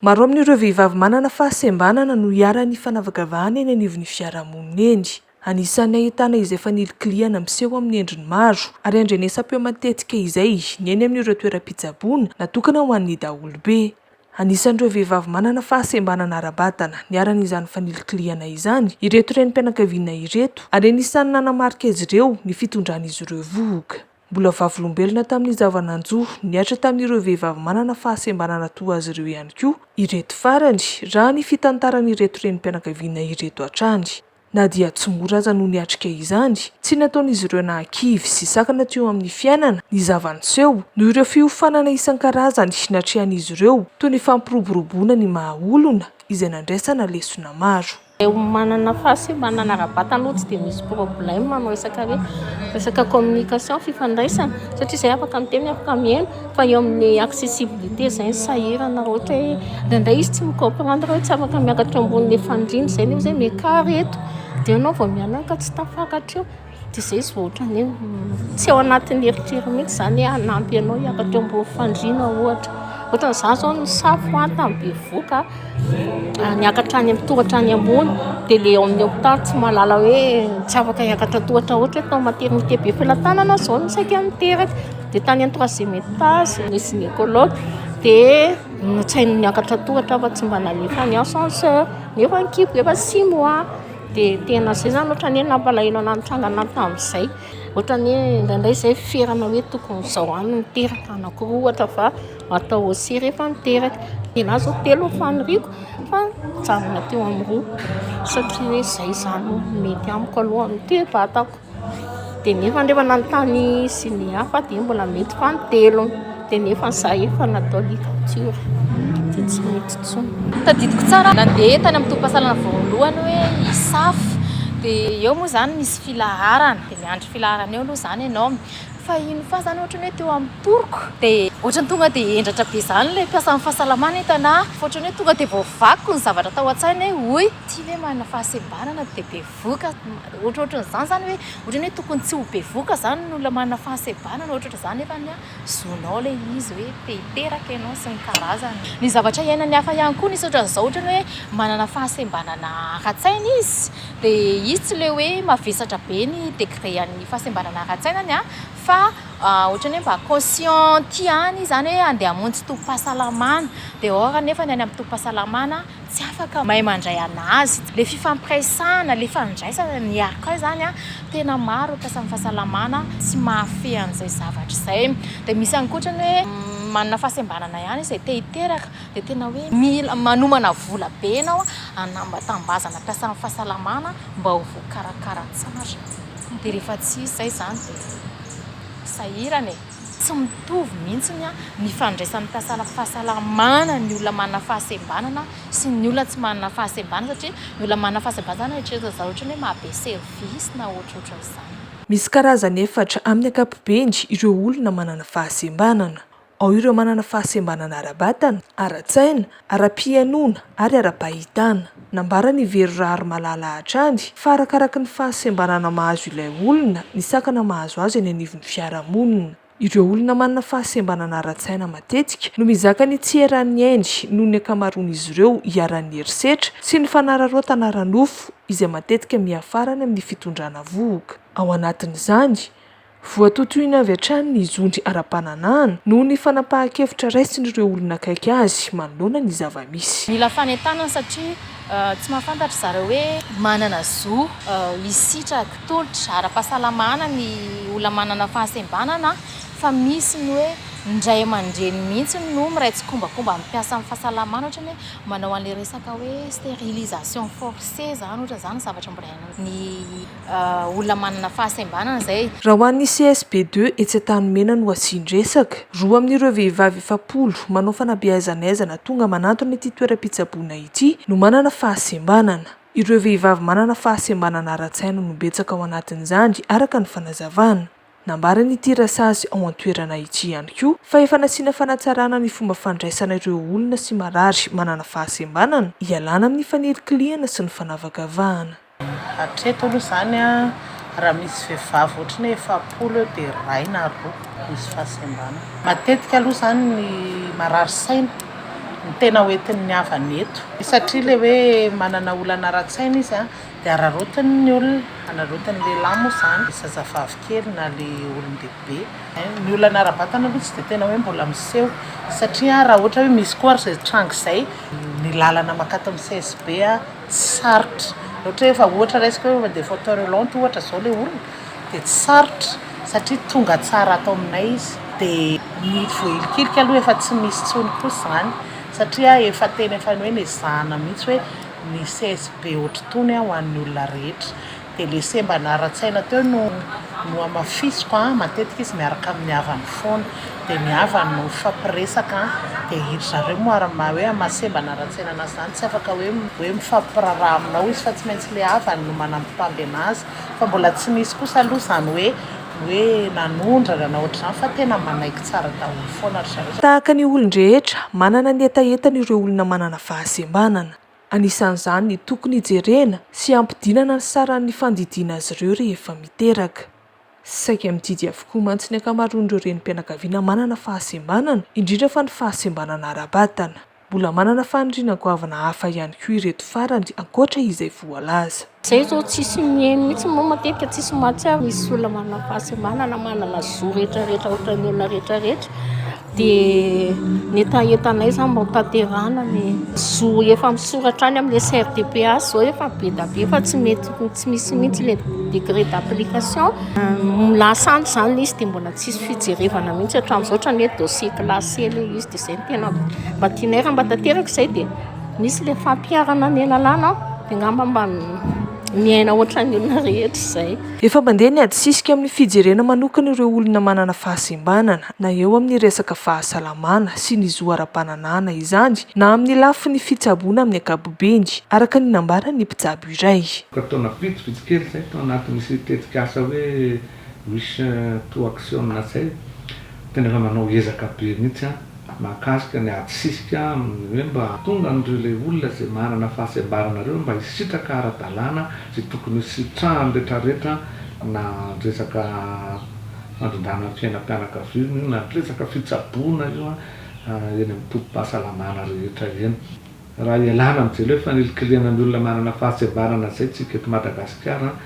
Maro amin'ireo vehivavy manana fahasembanana no iharan'ny fanavakavahana eny anivon'ny fiarahamonina eny. Anisan'ny ahitana izay fanilikilihana miseho amin'ny endriny maro ary andrenesam-peo matetika izay ny eny amin'ireo toeram-pitsaboana natokana ho an'ny daholobe. Anisan'ireo vehivavy manana fahasembanana ara-batana niharan' izany fanilikilihana izany ireto renim-pianakaviana ireto ary anisan'ny nanamarika azy ireo ny fitondran'izy ireo vohoka. Mbola vavolombelona tamin'ny zava-nanjo nihatra tamin'ireo vehivavy manana fahasembanana toa azy ireo ihany koa ireto farany, raha ny fitantaran'ireto renim-pianakaviana ireto hatrany. Na dia tsy mora aza no niatrika izany, tsy nataon'izy ireo nahakivy sy sakana teo amin'ny fiainana ny zava-niseho, noho ireo fiofanana isan-karazany natrehan'izy ireo, toy ny fampiroboroboana ny maha-olona, izay nandraisana lesona maro. Raha ny manana fahasembanana ara-batana aloha tsy dia misy problème amin'ny resaka hoe resaka communication, fifandraisana, satria izay afaka miteny, afaka mihaino, fa eo amin'ny accessibilité izay no sahirana, raha ohatra hoe indraindray izy tsy mi-comprendre hoe tsy afaka miakatra eo ambonin'ny efandriana izay, nefa izahay miankary eto, dia ianao vao mianaka tsy tafakatra eo. Dia izay izy vao ohatran'ny hoe tsy ao anatin'ny eritreriny mihitsy izany hoe hanampy anao hiakatra eo ambony fandriana ohatra. Ohatran'ny izaho izao nisafo an tamin'ny bevohoka an, niakatra any amin'ny tohatra any ambony dia ilay ao amin'ny hopitaly tsy mahalala hoe tsy afaka hiakatra tohatra ohatra hoe tao maternité be felatanana aho izao no saika niteraka dia tany amin'ny troisième étage ny gynécologue dia notsaininy niakatra tohatra aho fa tsy mba nalefany ascenseur nefa ny kibo efa six mois. Dia tena izay izany ohatran'ny hoe nampalahelo anà nitrangana tamin'izay. Ohatran'ny hoe indraindray izay ferana hoe tokony izao ihany no teraka anankiroa ohatra fa atao aussi rehefa miteraka. Ny anà izao telo no faniriako fa mijanona teo amin'ny roa satria hoe izay izany no mety amiko aloha no toe-batako. dia nefa nrefa nanontany sy ny hafa dia mbola mety fa ny telony dia nefa ny zaha efa natao ligature dia tsy mety tsony tadidiko tsara nandeha tany amin'ny tompasalana voalohany hoe isafo dia eo moa zany misy filaharana dia miandry filaharana eo aloha zany ianao fa ino fa zany ohatra ny hoe teo amin'ny poroko dia ohatra ny tonga dia hendratra be zany ilay mpiasan'ny fahasalamana hitana fa ohatra ny hoe tonga dia voavaky ny zavatra tao an-tsaina hoe hoy ity ve manana fahasembanana dia be voka, ohatrohatran'izany izany hoe ohatran'ny hoe tokony tsy ho be voka izany ny olona manana fahasebana na ohatrohatran'izany nefa ny ahy zonao ilay izy hoe te hiteraka ianao sy ny karazany. Ny zavatra iainan'ny hafa ihany koa nisy ohatran'izao ohatran'ny hoe manana fahasembanana ara-tsaina izy dia izy tsy ilay hoe mavesatra be ny degré an'ny fahasembanana ara-tsainany an fa ohatran'ny hoe mba conscient aty ihany izy izany hoe andeha hamonjy tobim-pahasalamana dehors nefa ny any amin'ny tobim-pahasalamana tsy afaka mahay mandray anazy le fifampiraisana le fandraisana ny arka izany a tena maro akasa ny fahasalamana tsy mahafehy an'izay zavatra izay dia misy ankoatra ny hoe manana fahasembanana ihany izay te hiteraka dia tena hoe mila manomana vola be ianao anambatambazana mpiasa amin'ny fahasalamana mba ho voakarakara tsara dia rehefa tsy izy izay izany dia sahirana e Tsy mitovy mihitsy ny fandraisan'ny mpiasana fahasalamana ny olona manana fahasembanana sy ny olona tsy manana fahasembanana satria ny olona manana fahasembanana izany eritreretina zareo ohatran'ny hoe mahabe service na ohatrohatran'izany. Misy karazany efatra amin'ny ankapobeny ireo olona manana fahasembanana. Ao ireo manana fahasembanana ara-batana, ara-tsaina, ara-pihenoana ary ara-pahitana. Nambaran' i Vero Raharimalala hatrany fa arakaraky ny fahasembanana mahazo ilay olona ny sakana mahazo azy eny anivon'ny fiarahamonina. Ireo olona manana fahasembanana ara-tsaina matetika no mizaka ny tsy eran'ny ainy noho ny ankamaroan'izy ireo iharan'ny herisetra sy ny fanararaotana ara-nofo izay matetika miafara any amin'ny fitondrana vohoka. Ao anatin'izany, Voatotoina avy hatrany ny zony ara-pananahana noho ny fanapahan-kevitra raisin'ireo olona akaiky azy manoloana ny zava-misy. Mila fanentanana satria tsy mahafantatra zareo hoe manana zo hisitraka tolotra ara-pahasalamana ny olona manana fahasembanana fa misy ny hoe ny ray aman-dreny mihitsy no miray tsikombakomba amin'ny mpiasa amin'ny fahasalamana ohatra ny hoe manao an'ilay resaka hoe sterilisation forcée izany ohatra izany zavatra mbola iainan'ny olona manana fahasembanana izay. Raha ho an'ny CSB deux etsy Antanimena no asian-dresaka, roa amin'ireo vehivavy efapolo manao fanabeazana aizana tonga manantona ity toeram-pitsaboana ity no manana fahasembanana. Ireo vehivavy manana fahasembanana ara-tsaina no betsaka ao anatin'izany araka ny fanazavana. Nambaran'ity Rasazy ao an-toerana ity ihany koa fa efa nasiana fanatsarana ny fomba fandraisana ireo olona sy marary manana fahasembanana hialana amin'ny fanilikilihana sy ny fanavakavahana. Hatreto aloha izany raha misy vehivavy ohatry ny hoe efapolo eo dia iray na roa misy fahasembanana. Matetika aloha izany ny marary saina no tena hoentin'ny havany eto. Satria ilay hoe manana olana ara-tsaina izy dia araraotiny ny olona, araraotiny lehilahy moa izany, ilay zazavavy kely na ilay olon-dehibe. Ny olana ara-batana aloha tsy dia tena hoe mbola miseho satria raha ohatra hoe misy koa ary izay tranga izay, ny lalana mankato amin'ny CSB. Tsy sarotra, ohatra hoe efa ohatra raisiko hoe efa de fauteuil roulant ohatra zao le olona de tsy sarotra satria tonga tsara ato aminay izy de ny voahilikilika aloha efa tsy misy tsony kosa zany satria efa tena efa hoe nezahana mihitsy hoe ny CSB ohatr'itony ho an'ny olona rehetra. Dia le sembana ara-tsaina teo no nohamafisiko an, matetika izy miaraka amin'ny havany foana, dia ny havany no mifampiresaka an, dia iry zareo moa ary maha hoe maha sembana ara-tsaina anazy izany tsy afaka hoe hoe mifampiraharaha aminao izy fa tsy maintsy le havany no manambitamby anazy, fa mbola tsy nisy kosa aloha izany hoe hoe nanondrana na ohatr'izany fa tena manaiky tsara daholo foana ry zareo. Tahaka ny olon-drehetra, manana ny hetahetany ireo olona manana fahasembanana. Anisan'izany ny tokony hijerena sy hampidinana ny saran'ny fandidiana azy ireo rehefa miteraka. Saika mididy avokoa mantsy ny ankamaroan'ireo renim-pianakaviana manana fahasembanana, indrindra fa ny fahasembanana ara-batana. Mbola manana faniriana goavana hafa ihany koa ireto farany ankoatra izay voalaza. Izay izao tsisy miheno mihitsy moa matetika tsisy mahatsiaro misy olona manana fahasembanana manana zo rehetra rehetra ohatran'ny olona rehetra rehetra dia ny hetahetanay izany mba hotanterahana ny zo efa misoratra any amin'ny SRDPA izao efa be dia be fa tsy mety tsy misy mihitsy ilay degré d'application lasa any izany ilay izy dia mbola tsisy fijerevana mihitsy hatramin'izao ohatran'ny hoe dossier classé ilay izy dia izay no tena mba tianay raha mba tanteraka izay dia Misy ilay fampiharana ny lalàna an, dia angamba mba miaina ohatran'ny olona rehetra izay. Efa mandeha ny adisisika amin'ny fijerena manokana ireo olona manana fahasembanana, na eo amin'ny resaka fahasalamana sy ny zo ara-pananahana izany, na amin'ny lafiny fitsaboana amin'ny ankapobeny, araka ny nambaran'ny mpitsabo iray. Efa taona vitsivitsy kely izay tao anatin'ity tetikasa hoe Wish to action Natsay, tena efa manao ezaka be mihitsy an, mahakasika ny ady sisika amin'ny hoe mba hahatonga an'ireo ilay olona izay manana fahasembarana ireo mba hisitraka ara-dalàna izay tokony ho sitrahan'ny retraretra na resaka fandrindrana ny fiainam-pianakaviana io na resaka fitsaboana io an, eny amin'ny tobim-pahasalamana rehetra eny. Raha hialana amin'izay hoe fanilikilihana ny olona manana fahasembarana izay tsika eto Madagasikara an,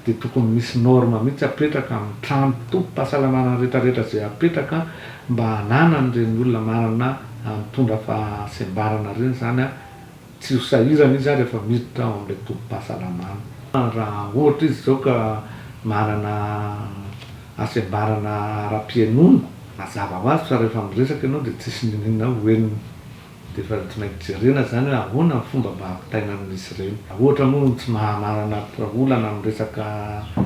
dia tokony misy norme mihitsy apetraka amin'ny trano tobim-pahasalamana rehetra rehetra izay apetraka mba hananan'ireny olona manana mitondra fahasembarana ireny izany tsy ho sahirana izy rehefa miditra ao amin'ilay tobim-pahasalamana. Raha ohatra izy izao ka manana hasembarana ara-pihainoana, mazava ho azy fa rehefa miresaka ianao dia tsisy n'inon'inona ho henony. Dia efa tonaiky jerena izany hoe ahoana ny fomba mba hampitaina amin'izy ireny. Raha ohatra moa ny tsy mahanarana olana amin'ny resaka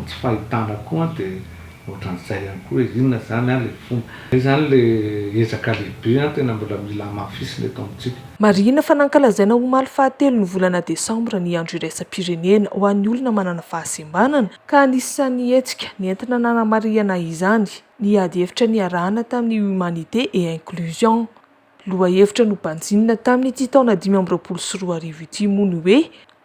tsy fahitana koa dia ohatran'izay ihany koa hoe inona izany ilay fomba. Izay izany ilay ezaka lehibe tena mbola mila hamafisina eto amintsika. Marihina fa nankalazaina omaly fahatelon'ny volana desambra ny andro iraisam-pirenena ho an'ny olona manana fahasembanana ka anisan'ny hetsika nentina nanamarihana izany ny ady hevitra niarahana tamin'ny Humanité et Inclusion, Lohahevitra nobanjinina tamin'ity taona dimy amby roapolo sy roa arivo ity moa ny hoe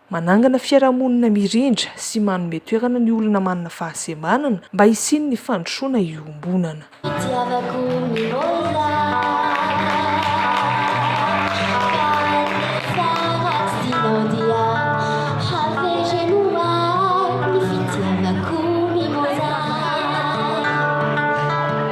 manangana fiarahamonina mirindra sy manome toerana ny olona manana fahasembanana mba hisian'ny fandrosoana iombonana. Itiavako ny rosa